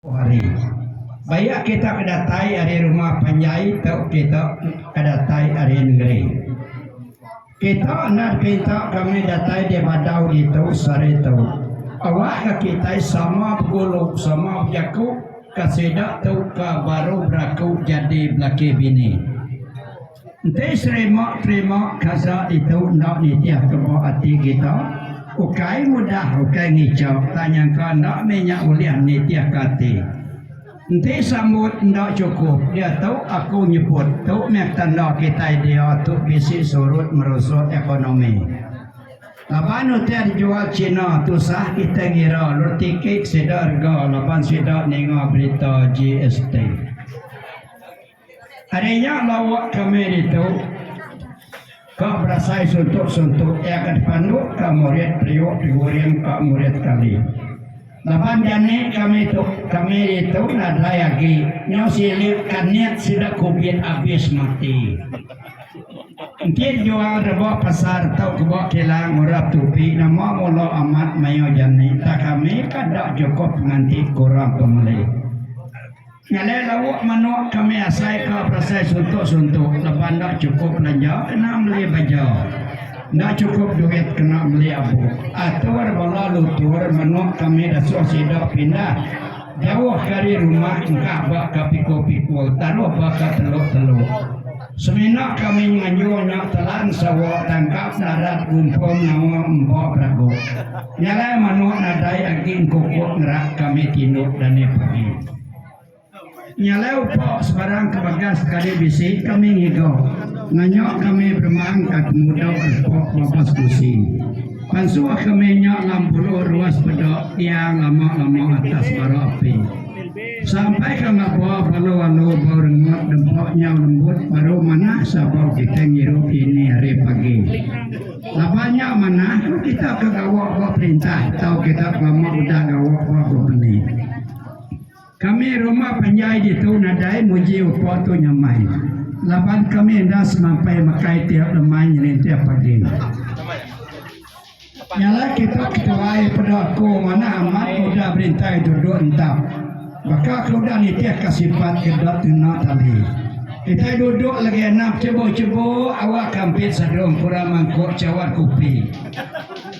Empu hari. Bayak kita ke datai ari rumah panjai tu kita ke datai ari nengeri. Kita enda dipinta ke meh datai di badau ditu sehari tu. Awak ke kitai sama begulu, sama bejaku ke sida tu ke baru beraku jadi belaki bini. Enti serima terima kasa ditu enda nitih ke ba ati kita, ukai mudah ukai ngicha tang nyangka enda meh nya ulih nitih ke ati. Enti sambut enda chukup diatu aku nyebut tu meh tanda kitai dia tu bisi surut merusut ekonomi. Laban utai dijual China tusah kitai ngira lalu tiki sida rega laban sida ninga berita GST. Ari nya lawa kami ditu ka berasai suntuk-suntuk iya ke dipandu ka murid periuk diguring ka murid kami. Laban jani kami tu kami ditu nadai agi nyau silik kanit sida kubit abis mati. Enti jual rebok pasar tu kebo kilang ngurap tupi nama mulo amat mayuh jani tak kami kada cukup nganti kurang pemeli. Ngalai lauk manok kami asai ka pasai suntok-suntok laban enda chukup belanja kena meli baja. Enda chukup duit kena meli abuk. Atur bala lutur manok kami dasuh sida pindah jauh ka ari rumah engkah ba ka pikul-pikul taruh ba ka teluk-teluk. Semina kami ngayuh nya telan sawa tangkap narat gumpung nyawa empa berago. Nyalai manuk nadai agi engkukuk ngerak kami tinduk dani pagi. Nyalai upa sebarang ke bagas sekali bisi kami ngiga. Nanya kami beremang ka temudok repok babas gusi. Pansuh kami nya lam puluh ruas peda tiang lama-lama atas bara api. Sampai ka ngaba balu alu bau rengut dempa nyau lembut baru manah sabau kitai ngiru ini hari pagi. Laban nya manah ku kita ke gawa ba perintah tau kita belama udah gawa ba kompeni. Kami rumah panjai ditu nadai muji upa tu nyamai laban kami enda semampai makai tiap lemai nyelintir pagi. Nyala kitak ketuai peda ku manah amat ke udah berintai duduk entap. Baka ke udah nitih ka sipat ke dot tuna tali. Kitai duduk lagi enap cebuk-cebuk awak ke ampit sadung kurang mangkuk cawat kupi.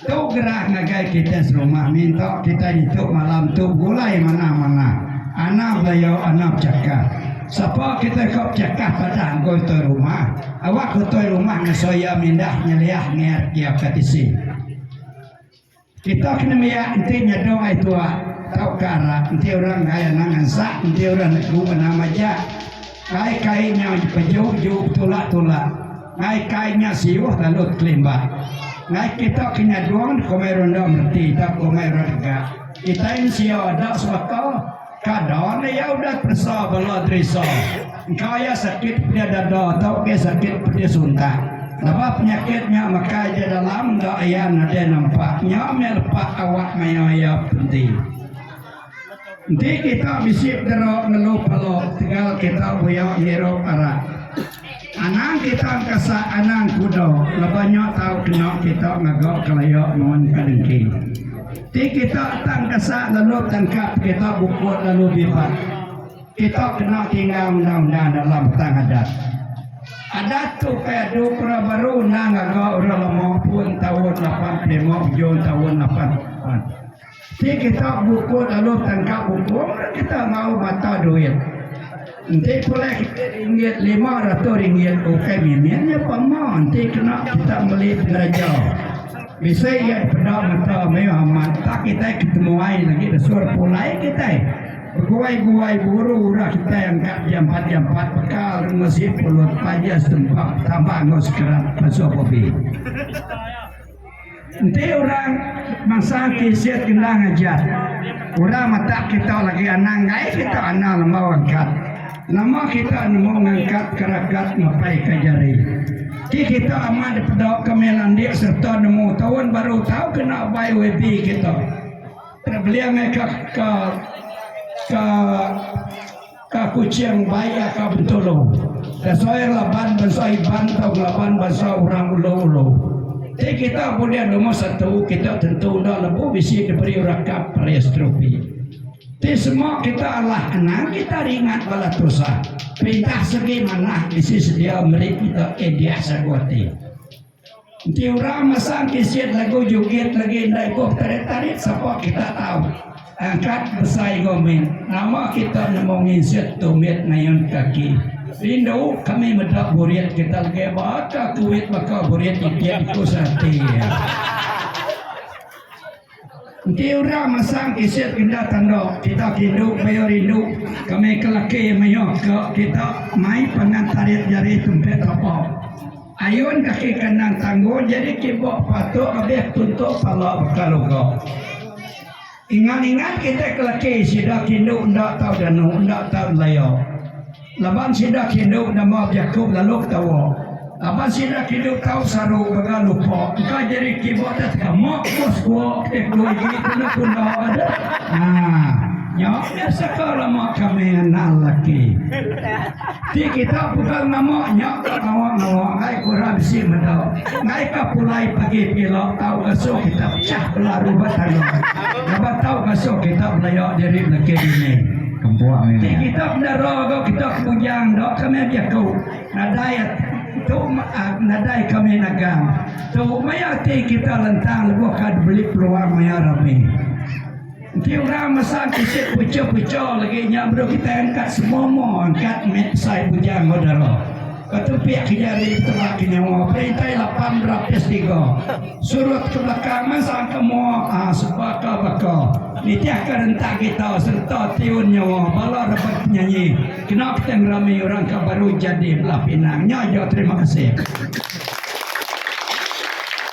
Tu gerah ngagai kitai serumah minta kitai ditu malam tu begulai manah-manah. Anap layau anap cakah. Sapa kitai ko bechakah padah enggoi toi rumah, awak ko toi rumah ngeso iya mindah nyeliah ngiat iya ka tisi. Kita kena mia enti nyadong ai tua tau ka ara enti orang enggai anang ngansa enti orang negu ngena majak. Kai kai nya beju ju betulak tulak. Ngai kai nya siuh lalu tekelimba. Ngai kita ke nyadong komai rundong reti tau komai orang dega. Kitai mensia enda sebaka. Ka don iya udah peresa bala Teresa. Engka iya sakit pia dada tauka sakit pia suntak. Lebuh penyakit nya mekai di dalam enda iya nadai nampak nya meh lepa awak maya iya penti. Enti kita bisi dera ngelu pala tegal kita buya ngirup arak. Anang kita engkasa anang kuda laban nya tau kena kita ngaga kelaya nuan ka dengki. Ti kita tang engkasa lalu tangkap kita bukut lalu bibat. Kita kena tinggal undang-undang dalam petang adat. Adat tu kai adu pura baru endang ngaga orang lama pun taun lapan pulih lima hujung taun lapan. Ti kita buku lalu tangkap buku meh kita enggau mata duit. Enti pulai kita ringgit lima ratus ringgit ukai mimin iya pun ma enti kena kita meli pengereja. Bisi iya dipeda mata meh amat entah kitai ke temuai lagi desur pulai kitai. Beguai-guai buru urang kitai angkat jampat-jampat bekal ngemesi pulut panja setempat tambah enggau sekerat pansut kopi. Enti orang bansa ti siat kena ngajar, orang matak kita lagi anang gaie kita anang lembau angkat. Nama kita nemu ngangkat ke ragat ngapai ka jari. Ti kita amat dipeda ke meh landik serta nemu taun baru tau kena by YB kita. Terbeleng ai ka ka ka. Ka Kuching baik aka Bintulu. Tesoir laban bansa Iban tau laban bansa urang Ulu-Ulu. Ti kita bulih nombor satu kita tentu enda lebuh bisi diberi rakap Pareastropi. Ti semua kita alah anang kita ringat bala tusah. Perintah segi manah bisi sedia meri kita Edia Sagu Ati. Enti orang masang keset lagu jugit lagi enda ibuh tarit-tarit sapa kita tau angkat besai gomin nama kita nemu nginsut tumit ngayun kaki rindu kami meda burit kita lagi baka kuit baka burit itik ku sati. Enti orang masang kaset enda tanda kita kindu pia rindu kami ke laki mayuh ke kita mai pangan tarit jari tumpek tapa ayun kaki kanan tangguh jadi kibok patuk abih tuntuk pala baka luga ingat ingat kita ke laki sida kindu enda tau danu enda tau laya. Laban sida kindu nama bejaku lalu ketawa. Laban sida kindu tau saru gaga lupa engka jadi kiba atas teka mak buah sekua ke tu igi kena kunda ada. Haa nya dah saka lama kami anak lelaki. Ti kita pegang nama nya ka ngawa-ngawa ai ku orang bisi meda. Ngai ka pulai pagi pila tau gasu kita pecah bela rubat tandai. Laban tau gasu kita belaya diri belaki dini. Ti kita bedara ga kita ke bujang enda ke meh diaku nadai tu nadai ke meh nagang tu maya ati kita lentang lebuh ka dibeli peluang maya rami enti orang masang ke si pecho-pecho lagi nya baru kita angkat semua-mua angkat meh besai bujang enggau dara. Ketupi ke jari petera ke nyawa perintai lapan berapis tiga. Surut ke belakang mansang ke mua ha sebaka baka nitih ke rentak gita sereta tiun nyawa bala rebet penyanyi kena kita ngerami orang ke baru jadi belah pinang nya aja terima kasih.